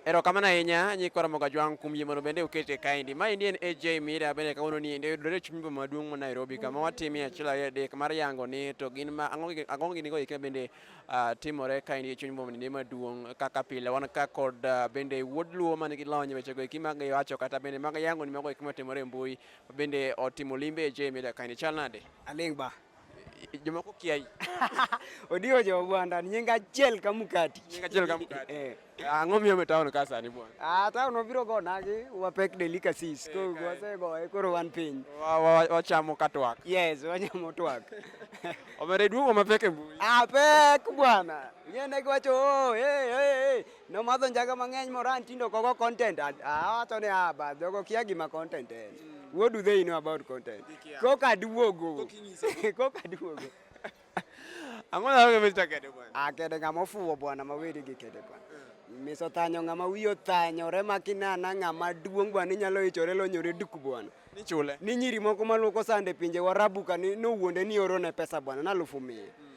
Erokamano ahinya nyikwa Ramogi Ajwang' kuom yie mondo bende ukete kaendi. Maendi en AJ Mira bende kawuono ni endi oyudore e chuny boma maduong' ma Nairobi kama watimie achiel ariyo adek mar yango ni to gin ma ang'o gi- ang'o gini go eki bende ah, timore kaendi e chuny boma ni maduong' kaka pile wan ka kod ah, bende wuod Luo man gi lony e weche go eki mag wacho kata bende mag yango ni mago eki matimore e mbui bende otimo limbe AJ Mira kaendi chal nade? Aling' ba. Jomoko kiai. Odiwo jo Ogwanda nying achiel ka mkati. Nying achiel ka mkati. Eh. Ang'o miyo me town ka sani bwana? Ah, town obiro go nagi wapek delicacies. Eh, koro wase go e koro wan piny. Wachamo ka twak. Yes, wanyamo twak. Omere duogo mapek e mbui. Ah, pek bwana. Ng'e ne giwacho, oh, hey, hey, hey. Nomadho njaga mang'eny moran tindo kogo content. Awacho ni ah, ba jogo kia gima content en. Mm. What do they know about content? Koka duogo. Koka duogo. Ang'o na wewe Mr. Kede bwana? Ah, Kede ng'ama ofuwo bwana maweri gi Kede bwana. Mm. Miso tanyo ng'ama wiye othanyore makinana ng'ama duong' bwana inyalo ichore lonyore duk bwana. Ni chule. Ni nyiri moko maluoko sande pinje warabu ka ni nowuonde ni orone pesa bwana na alufu mia. Mm.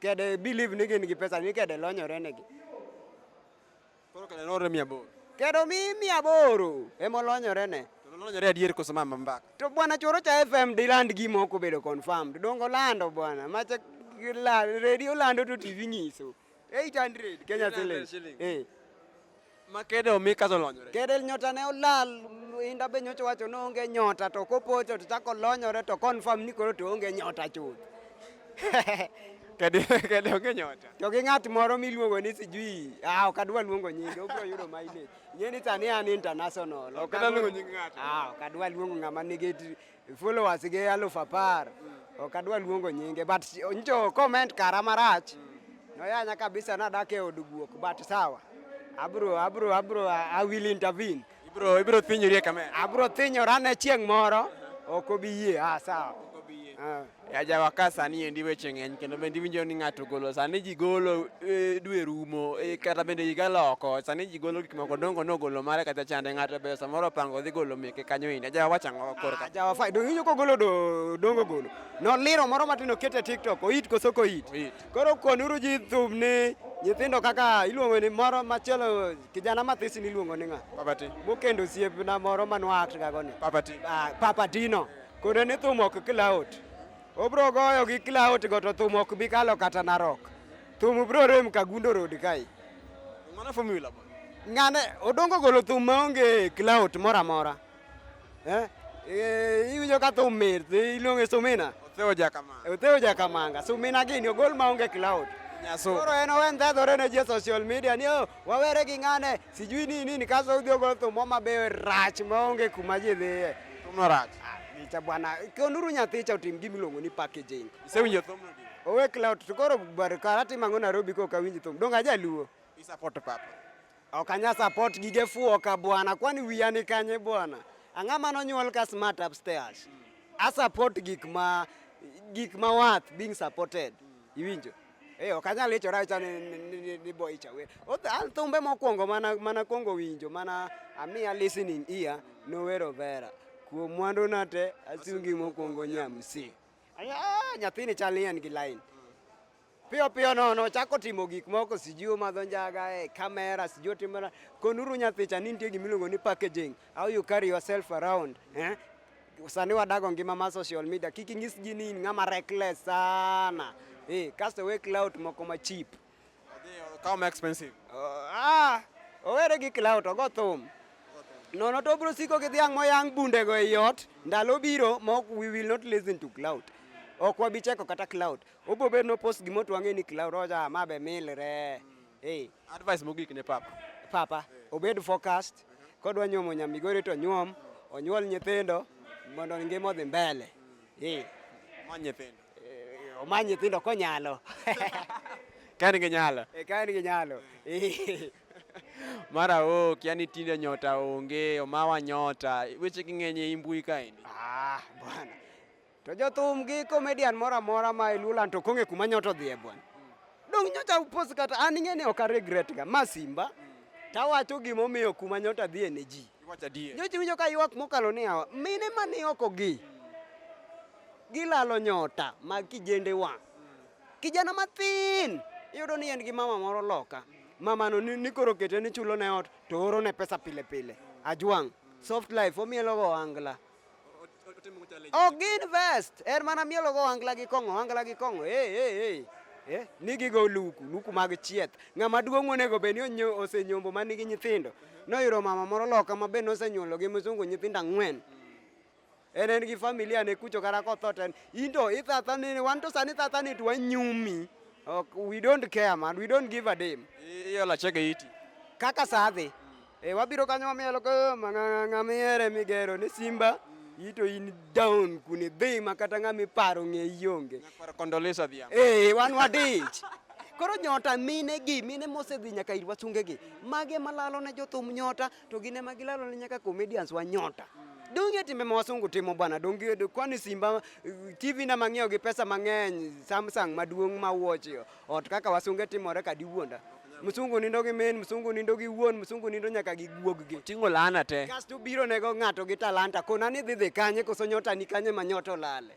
Kede believe ni gin gi pesa ni kede lonyore negi. Koro kede lonyore mia aboro. Kede omi mia aboro ema olonyore ne. To lonyore adier koso mama mbaka. To bwana choro cha FM diland gima ok obedo confirmed. Dongo lando bwana. Macha radio lando to TV nyiso. 800 Kenya shillings. Eh. Ma kede omi kaso olonyore. Kede nyota ne olal, inda be nyocha wacho ni onge nyota to kopocho to chako olonyore to confirm ni koro to onge nyota chuth. Kede kede onge nyota. To gi ng'at moro miluongo ni sijui, ah ok adwa luongo nyinge, obiro yudo mileage. Ing'e ni sani an international. Ok adwa luongo nying ng'ato. Ah, ok adwa luongo ng'ama nigi Followers gi aluf apar ok adwa luongo nyinge but njo comment kara marach noyanya kabisa nadak e od guok but sawa abro abro abro I will intervene ibro ibro thinyori e kamera abro thinyora ne chieng' moro ok obi yie ah sawa ok obi yie ah. Ajawa ka sani endi weche ng'eny kendo bende iwinjo ni ng'ato golo sani ji golo e, dwe rumo e, kata bende higa loko sani ji golo gik moko dongo nogolo mare kata chande ng'ato be samoro opango dhi golo meke kanyo endi ajawa wacha ang'o korka Ajawa fai dongo iwinjo kogolo do- dongo golo noliro moro matin okete tiktok oit koso koit Oit. koro konuru ji thum ni nyithindo kaka iluongo ni moro machielo kijana mathis niluongo ni ng'a papati mokendo osiepna moro manwaakgago ni papati Ah, papatino Kode ni thum ok klaut. Obro goyo gi klaut go to thum ok bi kalo kata narok. Thum bro rem ka gundo road kai. Mana formula ba. Ngane odongo golo thum maonge klaut mora mora. Eh? Eh, iwinjo ka thum mit, iluonge sumina. Otheo jakamanga. Otheo jakamanga. Sumina gini ogol maonge klaut. Nyaso. Koro en owe ndhadhore ne ji e social media ni oh, wawere gi ng'ane sijui ni nini kaso udhi ogolo thum moma be rach maonge kuma ji dhiye thumno rach icha ah, bwana konuru nyathi cha otim gima iluongo ni packaging isewinjo thumno owe cloud to koro bar kara timango Nairobi ko kawinji thum donga jaluo i support papa ok anya support gige fuo ka bwana kwani wiya ni kanye bwana ang'a mano nyuol ka smart upstairs mm. a support gik ma gik ma worth being supported mm. iwinjo Eh, ok anyal ichora acha ni, ni, ni, ni, ni boy chawer. Oth- an Thumbe mokwongo mana mana kwongo winjo mana amia listening ear nowero vera. Kuom mwandu na te asungi mokwongo nyamsi. Anya ah, nyathini chal ni en gi line. Piyo piyo nono chako timo gik moko sijui omadho njaga e kamera sijui otimo na- konuru nyathicha ni nitie gima iluongo ni packaging how you carry yourself around eh? Sani wadago ngima mar social media, kik inyis ji ni in ng'ama reckless sana. Eh, kasto we clout moko ma cheap. Kaw ma expensive. Uh, ah, owere gi clout, ogo thum. Nono to bro siko gi dhiang' moyang bundego e yot, ndalo biro ma we will not listen to clout. Ok wabi cheko kata clout. Obo bedo no post gima otwang'e ni clout, oja ma be milre. Mm. Hey. Advice mogik ne papa. Papa, hey. obed focused. Uh -huh. Kodwa nyuomo nyamigori to nyuom, onyuol nyithindo mondo ngima odhi mbele. Hey. Omany nyithindo. Eh, omany nyithindo konyalo. Kaen gi nyalo. Eh, kaen gi nyalo. Eh. Mara ok, yani tinde nyota onge, omawa nyota. Weche king'eny e mbui kaendi. Ah, bwana. To jothum gi comedian moro amora ma e Luoland to kong'e kuma nyoto dhi e bwana. Dong' nyocha upos kata an ing'e ni ok a regret ga ma simba tawacho gimomiyo kuma nyota dhi ne ji. Iwacho adier. Nyocha winjo ka ywak mokalo ni awa mine ma ni oko gi gilalo nyota mag kijende wa. Kijana mathin iyudo ni en gi mama moro loka. Mamano ni, ni koro kete ni chulo ne ot to oro ne pesa pile pile. Ajwang' soft life omielogo angla. Ok gin vest, er mana mielo go angla gi kong'o, angla gi kong'o. Hey, hey, hey. Eh, nigi go luku, luku mag chieth. Ng'ama duong' onego bed ni osenyombo ma nigi nyithindo. Noyudo mama moro loka ma be nosenyuolo gi mzungu nyithindo ang'wen. Mm. en en gi familia ne kucho kata kotho to en into ithatha ni wan to sani thatha ni to wanyumi ok we don't care man we don't give a damn iolo achega iti kaka sadhi E, wabiro kanyo wamielo ko mang'ang'a miere migero ni Simba ito in down kune dhi ma kata ng'a miparo ng'e ionge. Nyakwar Kondolesa Dhiambo. Eh, wan wadich. Koro nyota mine gi mine mosedhi nyaka ir wasunge gi mage malalo ne jothum nyota to gine ma gilalo ne nyaka comedians wa nyota. Donge timbe ma wasungu timo bwana, donge kwani Simba eh, TV na mang'iewo gi pesa mang'eny, Samsung maduong' ma watch Ot kaka wasunge timore ka diwuonda. Msungu nindo gi min, msungu nindo gi wuon, msungu nindo nyaka gi guog gi. Tingo lana te. Kasto biro nego ng'ato gi talanta kona ni dhi dhi kanye koso nyota ni kanye ma nyota olale.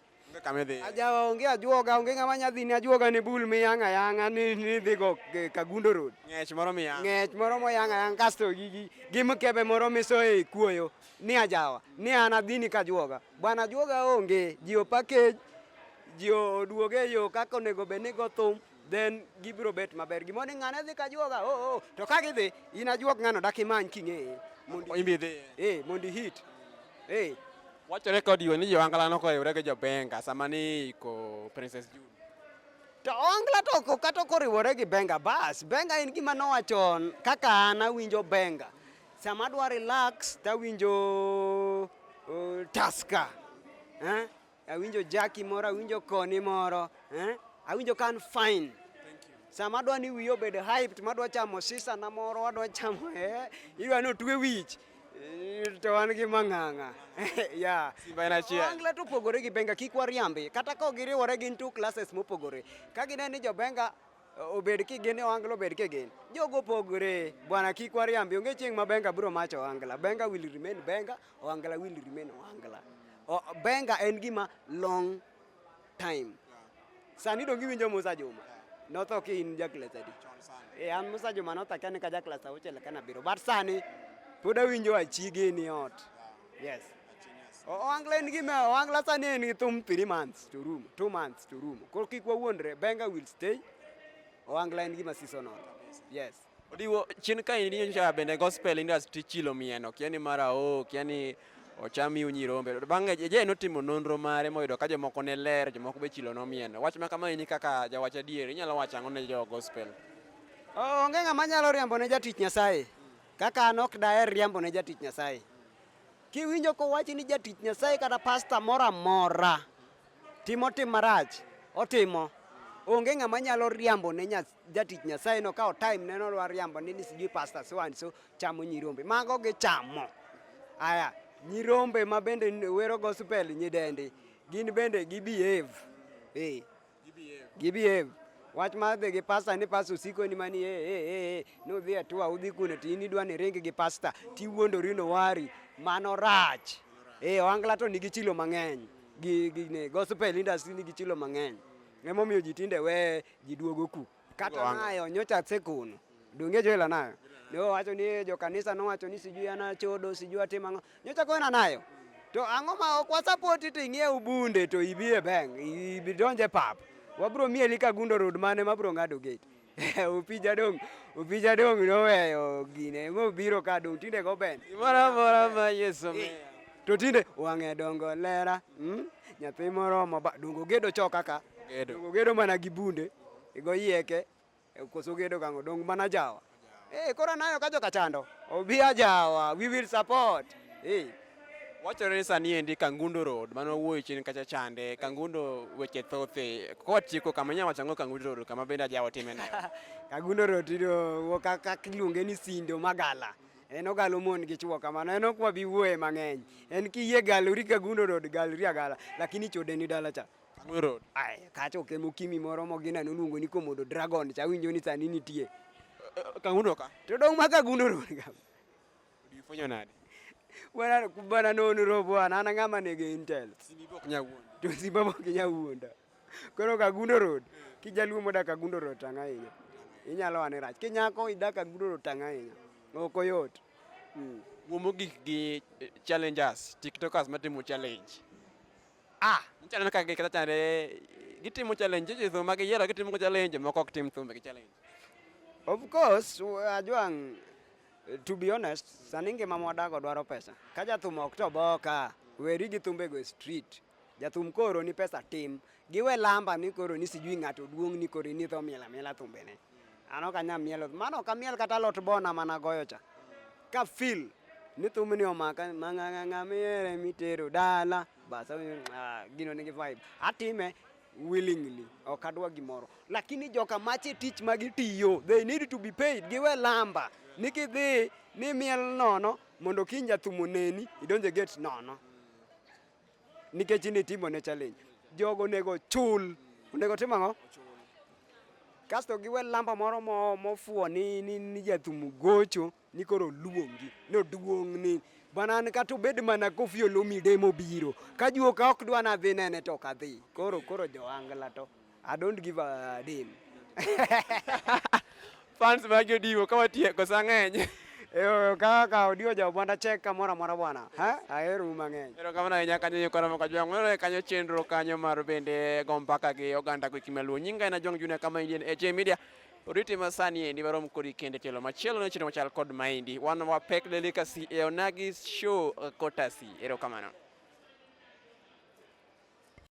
Ajawa onge ajuoga onge ng'ama nyadhi ni ajuoga ni bul miyanga yanga ni ni dhi go Kagundo Road. Ng'ech moro miyanga. Ng'ech moro moyanga yanga kasto gi gi mkebe moro misoe kuoyo ni ajawa ni an adhi ni kajuoga. Bwana juoga onge, ji o package, ji oduoge e yo kaka onego bed ni go thum then gibiro bet maber. Gimo ni ng'ane dhi ka juoga, oh, oh. To ka gidhi, in ajuog ng'ano dak imany king'eye. Mondo imbi dhi. Eh, mondo hit. Eh. Wachore kod yo ni jo angla noko yore gi jo benga sama ni ko Princess June. To ongla to ko kato koriwore gi benga bas. Benga en gima nowachon kaka an awinjo benga. Sama adwa relax to awinjo uh, Tusker. Eh? Awinjo Jackie moro, awinjo Koni moro. Eh? Awinjo kan fine. Sama adwa ni wiyo obed hyped, madwa chamo sisa na moro, adwa chamo eh, idwa ni otwe wich. Eh, to wan gi mang'ang'a ya Wangla to opogore gi Benga, kik wariambi. Kata ka giriwore gin two classes mopogore. Ka gineno ni jo Benga Obed kigen ni ohangla obed kigen. Jogo opogore. Bwana kik wariambi. Onge chieng' ma benga biro macho ohangla. Benga will remain benga, ohangla will remain ohangla. Benga en gima long time. Sani donge iwinjo Musa Juma? Notho ki in jaklas adi? E an Musa Juma notho akia ni ka jaklas auchiel kana biro. But sani pod awinjo achige ni ot. Yes. Owangla en gima Owangla sani en gi thum 3 months to room, 2 months to room. Koro kik wawuondre, Benga will stay. Owangla en gima seasonal. Yes. Odiwo chin ka ini nyocha bende gospel industry chilo mieno, kiani mara o, kiani ochami unyirombe. Bang'e je notimo nonro mare moyudo ka jomoko ne ler, jomoko be chilo nomieno. Wach ma kama ini kaka jawach adier, inyalo wacho ang'o ne jo gospel? Onge ng'ama nyalo riambo ne jatich Nyasaye. Kaka an ok daher riambo ne jatich Nyasaye. Kiwinjo kowachi ni jatich Nyasaye kata pasta moro amora timo tim marach, otimo. Onge ng'ama nyalo riambo ne nya, jatich Nyasaye no kawo time ne nodwa riambo ni sijui pasta so and so chamo nyirombe. Mago gichamo. Aya, nyirombe ma bende wero gospel nyidendi, gin bende gi behave. Eh. Gibiev. Wach mar dhi gi pasta ni pasta osiko ni mani ee ee ee ni udhi e tua udhi kuno to in idwa ni ringi gi pasta tiwuondori nowari mano rach. Ee ohangla to nigi chilo mang'eny gi gi ne gospel industry nigi chilo mang'eny. Emomiyo ji tinde we ji duogo ku. Kata nayo nyocha tsekuno. Donge jo ila nayo. Ne wacho ni jo kanisa no wacho ni sijui ana chodo, sijui atima ngo. Nyocha ko ina nayo. To ang'o ma ok wasapoti to ing'e ubunde to ibi e bank, ibi donje pap. Wabro mieli ka gundo road mane mabro ng'ado gate. Upija dong, upija dong noweyo gine, mobiro ka dong tinde go ben. Mara mara ma Yesu. Eh. to tinde wang'e dongo lera mm? nyathi moromo ba dongo gedo cho kaka gedo dongo gedo mana gi bunde igo yieke e, koso gedo kango dong mana jawa eh kora nayo ka joka chando obi ajawa we will support eh wachore sani endi Kangundo Road mano wuoyo chini kacha chande Kangundo weche thothe kwa chiko kama nyama chango Kangundo Road kama benda jawa timena Kangundo Road ndo kaka kiluonge ni sindo magala en ogalo mon gi chwo kamano en ok wabi wuoye mang'eny en kiyie galori ka gundo road galori agala lakini chode ni dala cha Road. Ay, kacha ok emo kimi moro mogina noluongo ni komodo dragon cha winjo ni sani nitie eh, eh, kangundo ka to dong ma kagundo road ka ulifunyo nani bwana bwana nono robo ana ng'ama nege intel sibibo kinyawuonda to sibibo kinyawuonda Koro Kagundo Road, kijaluo modak Kagundo Road tang' ahinya. Inyalo ane rach. Kinyako idak Kagundo Road tang' ahinya. Ok oyot. Mm. Wuo mogik gi eh, challengers, tiktokers matimo challenge. Ah, challenge kaka gikata chande gitimo challenge ji thumba giyiero gitimo challenge moko ok tim thumba gi challenge. Of course, u- Ajwang, to be honest, sani ngima mwadago dwaro pesa. Ka jathum ok to boka, weri gi thumbego e street. Jathum koro ni pesa tim. Giwe lamba ni koro ni sijui ng'ato duong' ni koro ni tho miela miela thumbene. Ano kanya mielo. Mano kamiel kata lot bona mana goyo cha. Ka feel ni thumbni omaka mang'ang'ang'a miere mitero dala. Bas ah, gino nigi vibe. Atime willingly ok adwa gimoro lakini joka mache tich ma gitiyo they need to be paid giwe lamba ni kidhi ni miel nono mondo kiny jathum oneni idonje gate nono nikech in itimo ne challenge. Jogo onego chul, onego tim ang'o? Kasto giwe lamba moro mo- mofuwo ni, ni, ni jathum gocho ni koro oluongi ni oduong' ni bana an kata obed mana kofi olomide mobiro kajuo ka ok dwa nadhi nene to ok adhi koro koro joangla to I don't give a damn. Fans mag Odiwo ka watieko sa ng'eny. Eyo kaka Odiwo ja Obwanda chek kamoro amora bwana. Ha? Ahero u mang'eny. Ero kamano ahinya kanyo yo kora maka jwang. Mano kanyo chenro kanyo mar bende go mpaka gi oganda kwa kimya luo. Nyinga ina jwang juna kama Indian HA Media. Oriti masani endi warom kodi kende telo machielo ne chino machal kod maindi. Wan wa pek delicacy e onagi show kotasi. Ero kamano.